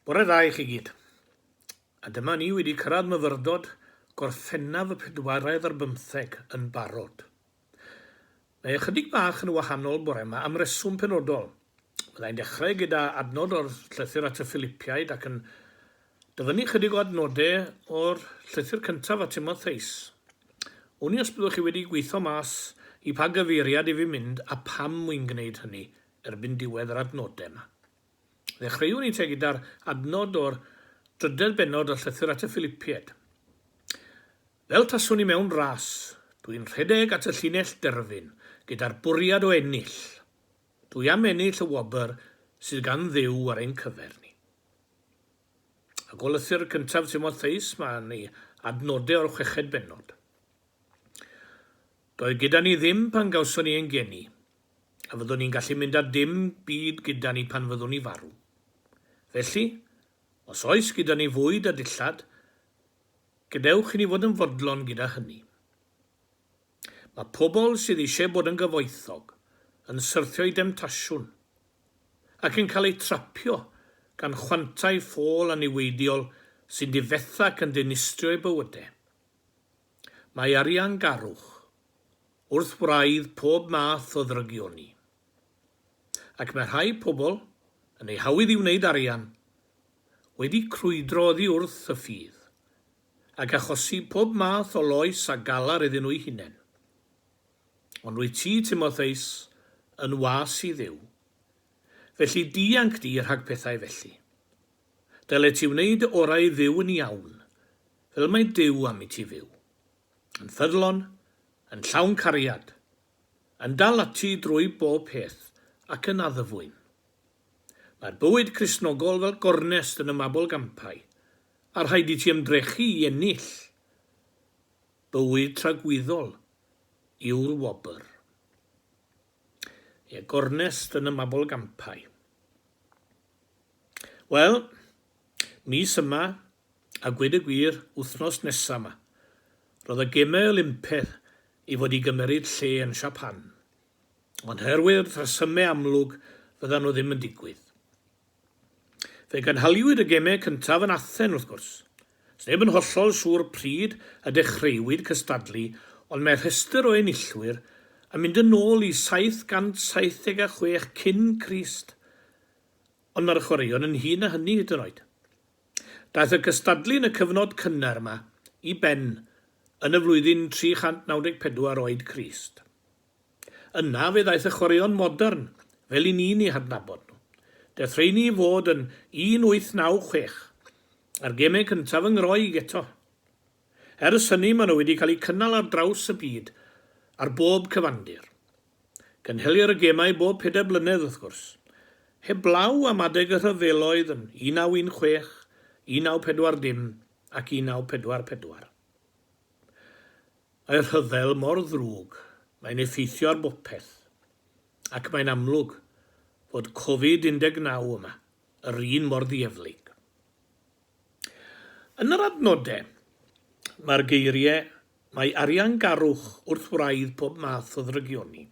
Bore dda i chi gyd. A dyma ni wedi cyrraedd myfyrdod Gorffennaf y pedwaredd ar bymtheg yn barod. Mae ychydig bach yn wahanol bore yma am reswm penodol. Fyddai'n dechrau gyda adnod o'r llythyr at y Ffilipiaid ac yn dyfynnu ychydig o adnodau o'r llythyr cyntaf at Timotheus. Wn i os byddwch chi wedi gweitho mas i pa gyfeiriad i fi mynd a pam mwy'n gwneud hynny, erbyn diwedd yr adnodau yma. Ddechreuwn i te gyda'r adnod o'r drydedd bennod o Llythyr at y Ffilipiaid. Fel taswn i mewn ras, dw i'n rhedeg at y llinell derfyn gyda'r bwriad o ennill. Dw i am ennill y wobr sydd gan Dduw ar ein cyfer ni. A golythur cyntaf Timotheus, mae ni adnodau o'r chweched bennod. Doedd gyda ni ddim pan gawson ni ein geni, a fyddwn ni'n gallu mynd a dim byd gyda ni pan fyddwn ni farw. Felly, os oes gyda ni fwyd a dillad, gadewch i ni fod yn fodlon gyda hynny. Mae pobl sydd eisiau bod yn gyfoethog yn syrthio i demtasiwn ac yn cael eu trapio gan chwantau ffôl a niweidiol sy'n difetha ac yn dinistrio eu bywydau. Mae ariangarwch wrth wraidd pob math o ddrygioni, ac mae rhai pobl, yn eu hawydd i wneud arian, wedi crwydro oddi wrth y ffydd, ac achosi pob math o loes a galar iddyn nhw'u hunain. Ond wyt ti, Timotheus, yn was i Dduw, felly dianc di rhag pethau felly. Dyle ti wneud dy orau i fyw yn iawn, fel mae Duw am i ti fyw. Yn ffyddlon, yn llawn cariad, yn dal ati drwy bob peth ac yn addfwyn. Mae'r bywyd Cristnogol fel gornest yn y mabolgampau, a rhaid i ti ymdrechu i ennill. Bywyd tragwyddol yw'r wobr. Ie, gornest yn y mabolgampau. Wel, mis yma, a gwed y gwir, wythnos nesa yma, roedd y Gemau Olympedd i fod i gymeryd lle yn Siapan, ond herwydd rhesymau amlwg fyddan nhw ddim yn digwydd. Fe gynhaliwyd y gemau cyntaf yn Athen, wrth gwrs. Sneb yn hollol siŵr pryd y dechreuwyd cystadlu ond mae rhestr o enillwyr yn mynd yn ôl i 776 cyn Crist ond mae'r chwaraeon yn hŷn na hynny hyd yn oed. Daeth y cystadlu yn y cyfnod cynnar yma i ben yn y flwyddyn 394 oed Crist. Yna fe ddaeth y chwaraeon modern, fel i ni'n eu hadnabod nhw. Daeth rheiny i fod yn 1896, a'r gemau cyntaf yn Ngroeg eto. Ers hynny maen nhw wedi cael eu cynnal ar draws y byd, ar bob cyfandir. Cynhelir y gemau bob pedair blynedd, wrth gwrs. Heblaw am adeg y rhyfeloedd yn 1916, 1940 ac 1944. Mae'r rhyfel mor ddrwg, mae'n effeithio ar bopeth. Ac mae'n amlwg fod Covid 19 yma, yr un mor ddieflig. Yn yr adnodau, mae'r geiriau, Mae ariangarwch wrth wraidd pob math o ddrygioni.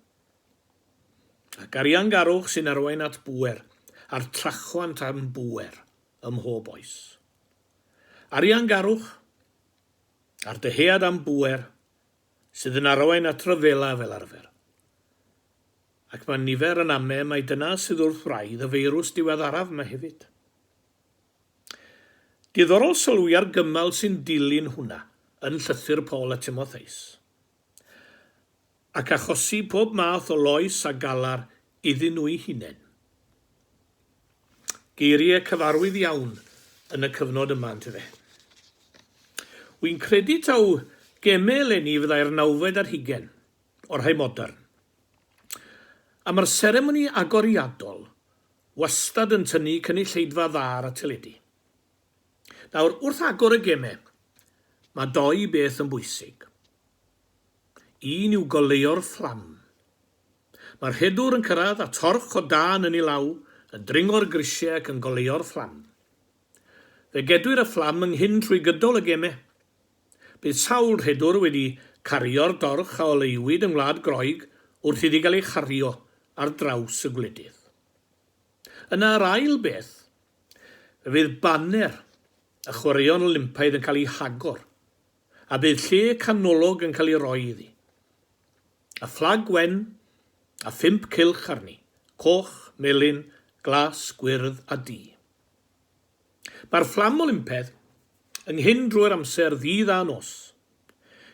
Ac ariangarwch sy'n arwain at bŵer, a'r trachwant am bŵer, ym mhob oes. Ariangarwch a'r dyhead am bŵer sydd yn arwain at ryfela fel arfer. Ac mae nifer yn ame mai dyna sydd wrth wraidd y feirws diweddaraf yma hefyd. Diddorol sylwi ar gymal sy'n dilyn hwnna yn llythyr Paul a Timotheus. ac achosi pob math o loes a galar iddyn nhw'u hunain. Geiriau cyfarwydd iawn yn y cyfnod yma yntyfe? Wi'n credu taw geme eleni fyddai'r nawfed ar hugain, o'r rhai modern. A mae'r seremoni agoriadol wastad yn tynnu cynulleidfa dda ar y teledu. Nawr, wrth agor y geme, mae dou beth yn bwysig. Un yw goleuo'r fflam. Mae'r rhedwr yn cyrraedd a torch o dân yn ei law yn dringo'r grisiau ac yn goleuo'r fflam. Fe gedwir y fflam yng nghyn trwy gydol y gemau. Bydd sawl rhedwr wedi cario'r dorch a oleuwyd yng Ngwlad Groeg wrth iddi gael ei chario ar draws y gwledydd. Yna yr ail beth, fe fydd baner y Chwaraeon Olympaidd yn cael ei hagor a bydd lle canolog yn cael ei roi iddi. A fflag wen, a phump cylch arni, coch, melyn, glas, gwyrdd a du. Mae'r fflam Olympedd yn nghyn drwy'r amser ddydd a nos.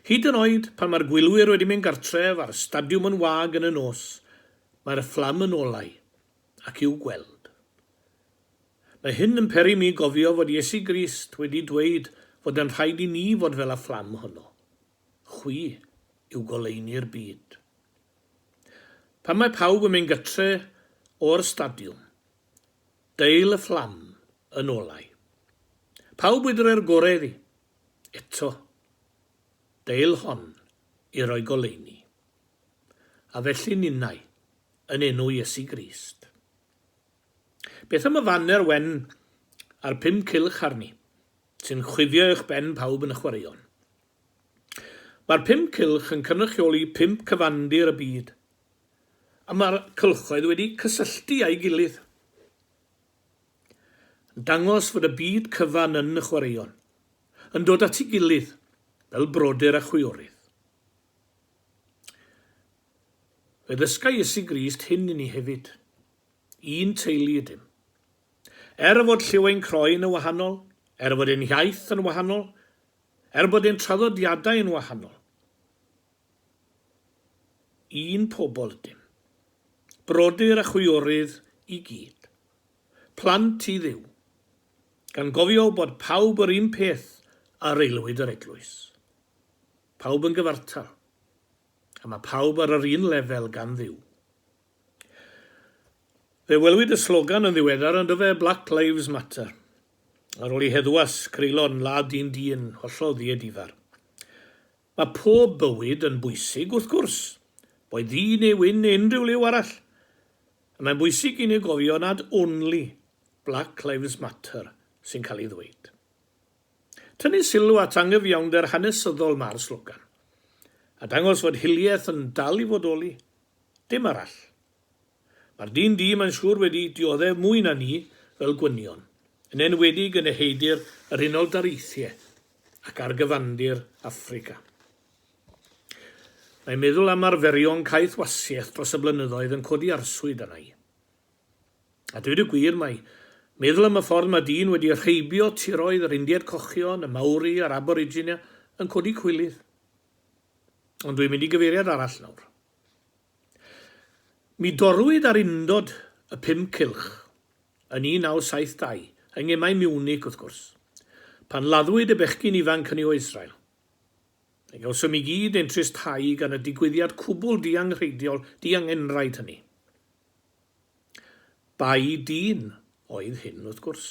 Hyd yn oed pan mae'r gwylwyr wedi mynd gartref a'r stadiwm yn wag yn y nos, mae'r fflam yn olau. ac i'w gweld. Mae hyn yn peri mi gofio fod Iesu Grist wedi dweud fod yn rhaid i ni fod fel y fflam honno. Chwi yw goleuni'r byd. Pan mae pawb yn mynd gytre o'r stadiwm, deil y fflam yn olau. Pawb wydre'r gore iddi. Eto. Deil hon i roi goleuni. A felly ninnau, yn enw Iesu Grist. Beth am y faner wen a'r pum cylch arni, sy'n chwifio uwch ben pawb yn y chwaraeon? Mae'r pum cylch yn cynrychioli pump cyfandir y byd, a mae'r cylchoedd wedi cysylltu â'i gilydd, yn dangos fod y byd cyfan yn y chwaraeon, yn dod at ei gilydd fel brodyr a chwiorydd. Fe ddysga Iesu Grist hyn i ni hefyd. Un teulu ydym. Er fod lliw ein croen yn wahanol, er fod ein hiaith yn wahanol, er bod ein traddodiadau yn wahanol, un pobl ydym. Brodyr a chwiorydd i gyd. Plant i Dduw. Gan gofio bod pawb yr un peth ar aelwyd yr eglwys. Pawb yn gyfartal. a mae pawb ar yr un lefel gan Dduw. Fe welwyd y slogan yn ddiweddar yn dyfe Black Lives Matter. Ar ôl i heddwas greulon ladd dyn dyn hollol ddiedifar. Mae pob bywyd yn bwysig, wrth gwrs, boed ddu neu wyn neu unrhyw liw arall. A mae'n bwysig i ni gofio nad only Black Lives Matter sy'n cael ei ddweud. Tynnu sylw at angyfiawnder hanesyddol mae'r slogan, a dangos fod hiliaeth yn dal i fodoli, dim arall. Mae'r dyn du mae'n siŵr wedi dioddef mwy na ni fel gwynion, yn enwedig yn eheudir yr Unol Daleithiau ac ar gyfandir Affrica. Mae meddwl am arferion caethwasiaeth dros y blynyddoedd yn codi arswyd arna i. A dweud y gwir, mae meddwl am y ffordd mae dyn wedi rheibio tiroedd yr Indiaid Cochion, y Maori a'r Aboriginia yn codi cwilydd. Ond dwi'n mynd i gyfeiriad arall nawr. Mi dorrwyd ar undod y pum cylch yn 1972, yng Ngemau Miwnic wrth gwrs, pan laddwyd y bechgyn ifanc hynny o Israel. Fe gawsom i gyd ein tristhau gan y digwyddiad cwbl dianghreidiol, diangenraid hynny. Bai dyn oedd hyn, wrth gwrs.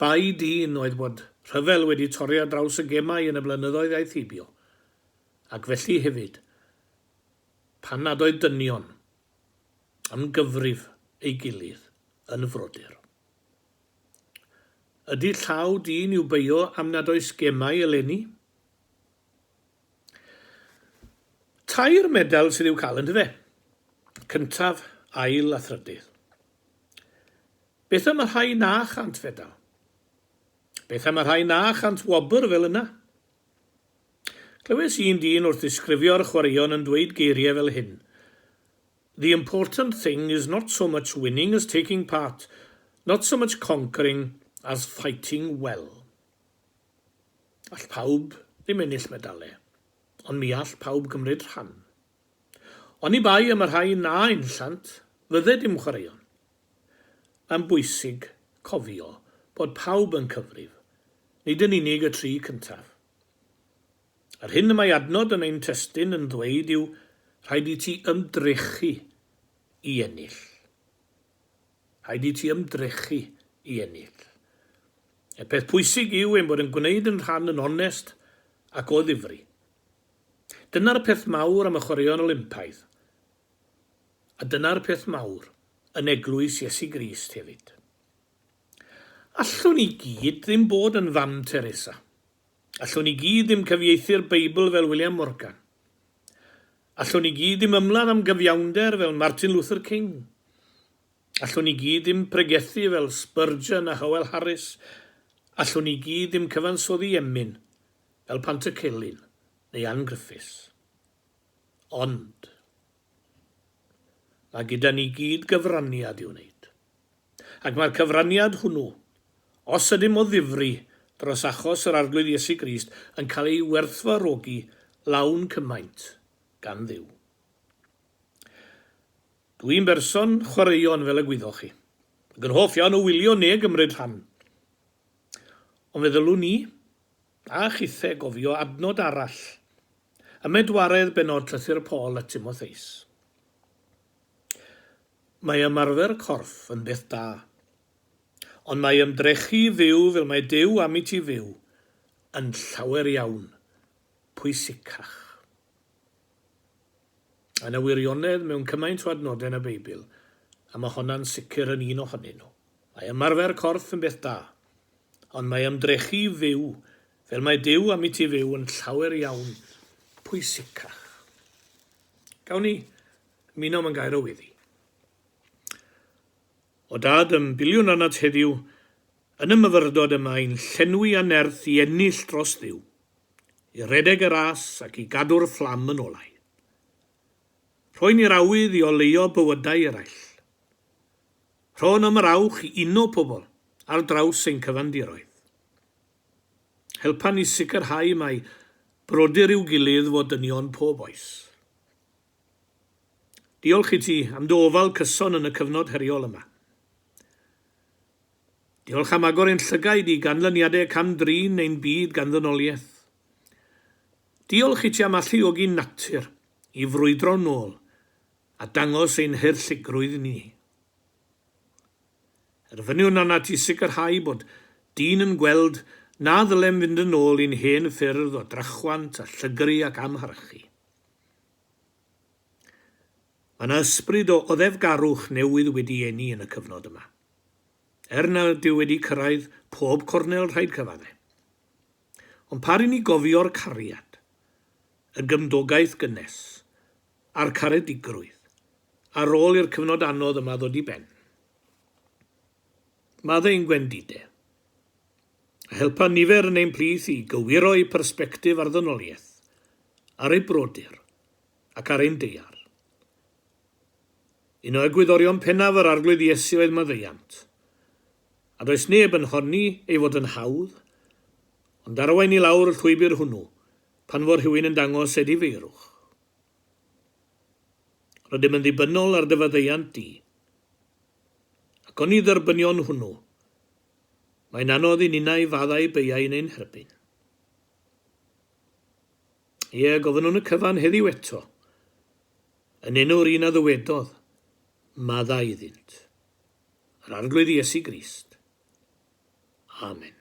Bai dyn oedd bod rhyfel wedi torri ar draws y gemau yn y blynyddoedd aeth heibio, ac felly hefyd, pan nad oedd dynion am gyfrif ei gilydd yn frodyr. Ydy llaw dyn i'w beio am nad oes gemau eleni? Tair medal sydd i'w cael yndyfe? Cyntaf, ail a thrydydd. Beth am y rhai na chant fedal? Beth am y rhai na chant wobr fel yna? Clywes un dyn wrth ddisgrifio'r chwaraeon yn dweud geiriau fel hyn, The important thing is not so much winning as taking part, not so much conquering as fighting well. All pawb ddim ennill medalau, ond mi all pawb gymryd rhan. Oni bai am y rhai na enllant, fydde dim chwaraeon. Mae'n bwysig cofio bod pawb yn cyfrif, nid yn unig y tri cyntaf. Yr hyn y mae adnod yn ein testun yn ddweud yw rhaid i ti ymdrechu i ennill. Rhaid i ti ymdrechu i ennill. Y peth pwysig yw ein bod yn gwneud yn rhan yn onest ac o ddifri. Dyna'r peth mawr am y Chwaraeon Olympaidd, a dyna'r peth mawr yn Eglwys Iesu Grist hefyd. Allwn ni gyd ddim bod yn Fam Teresa. Allwn ni gyd ddim cyfieithu'r Beibl fel William Morgan. Allwn ni gyd ddim ymladd am gyfiawnder fel Martin Luther King. Allwn ni gyd ddim pregethu fel Spurgeon a Howell Harris. Allwn ni gyd ddim cyfansoddi emyn fel Panter Celyn neu Ann Griffiths. Ond, mae gyda ni gyd gyfraniad i'w wneud. Ac mae'r cyfraniad hwnnw, os ydym o ddifri dros achos yr Arglwydd Iesu Grist, yn cael ei werthfawrogi lawn cymaint gan Dduw. Dw i'n berson chwaraeon, fel y gwyddoch chi, ac yn hoff iawn o wylio ne gymryd rhan. Ond fe ddylwn ni, a chithe, gofio adnod arall ym medwaredd bennod Llythyr Paul at Timotheus. Mae ymarfer corff yn beth da. Ond mae ymdrechu i fyw fel mae Duw am i ti fyw yn llawer iawn pwysicach. Mae yna wirionedd mewn cymaint o adnodau yn y Beibl, a mae honna'n sicr yn un ohonyn nhw. Mae ymarfer corff yn beth da. Ond mae ymdrechu i fyw fel mae Duw am i ti fyw yn llawer iawn pwysicach. Gawn ni Minom yn gair o weddi. O dad ym biliwn anad heddiw, yn y myfyrdod y mae'n llenwi a nerth i ennill dros Dduw, i redeg y ras ac i gadw'r fflam yn olau. Rhoi ni'r awydd i oleuo bywydau eraill. Rho'n am yr awch i uno pobl ar draws ein cyfandiroedd. Helpan ni sicrhau mai brodyr i'w gilydd fo dynion pob oes. Diolch i ti am dy ofal cyson yn y cyfnod heriol yma. Diolch am agor ein llygaid i ganlyniadau cam-drin ein byd gan ddynoliaeth. Diolch i ti am alluogi natur i frwydro'n nôl a dangos ein haerlligrwydd ni. Erfyniwn arnat i sicrhau bod dyn yn gweld na ddylem fynd yn ôl i'n hen ffyrdd o drachwant a llygru ac amharchu. Mae yna ysbryd o oddefgarwch newydd wedi eni yn y cyfnod yma. Er nad yw wedi cyrraedd pob cornel rhaid cyfadde. Ond pa ry'n ni gofio'r cariad, y gymdogaeth gynnes, a'r caredigrwydd, ar ôl i'r cyfnod anodd yma ddod i ben? Maddeu'n gwendide. a helpa nifer yn ein plith i gywiro'u persbectif ar ddynoliaeth, ar eu brodyr, ac ar ein deiar. Un o egwyddorion pennaf yr Arglwydd Iesu oedd maddeuant, a does neb yn honni ei fod yn hawdd, ond arwain i lawr y llwybr hwnnw pan fo rhywun yn dangos edifeirwch. Rydym yn ddibynnol ar dy faddeuant di, ac oni dderbynion hwnnw Mae'n anodd i ninnau faddau beiau yn ein herbyn. Ie, gofynnwn y cyfan heddiw eto, yn enw'r un a ddywedodd, Madda iddynt. Yr Arglwydd Iesu Grist. Amen.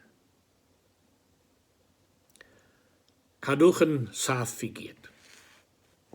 Cadwch yn saff i gyd.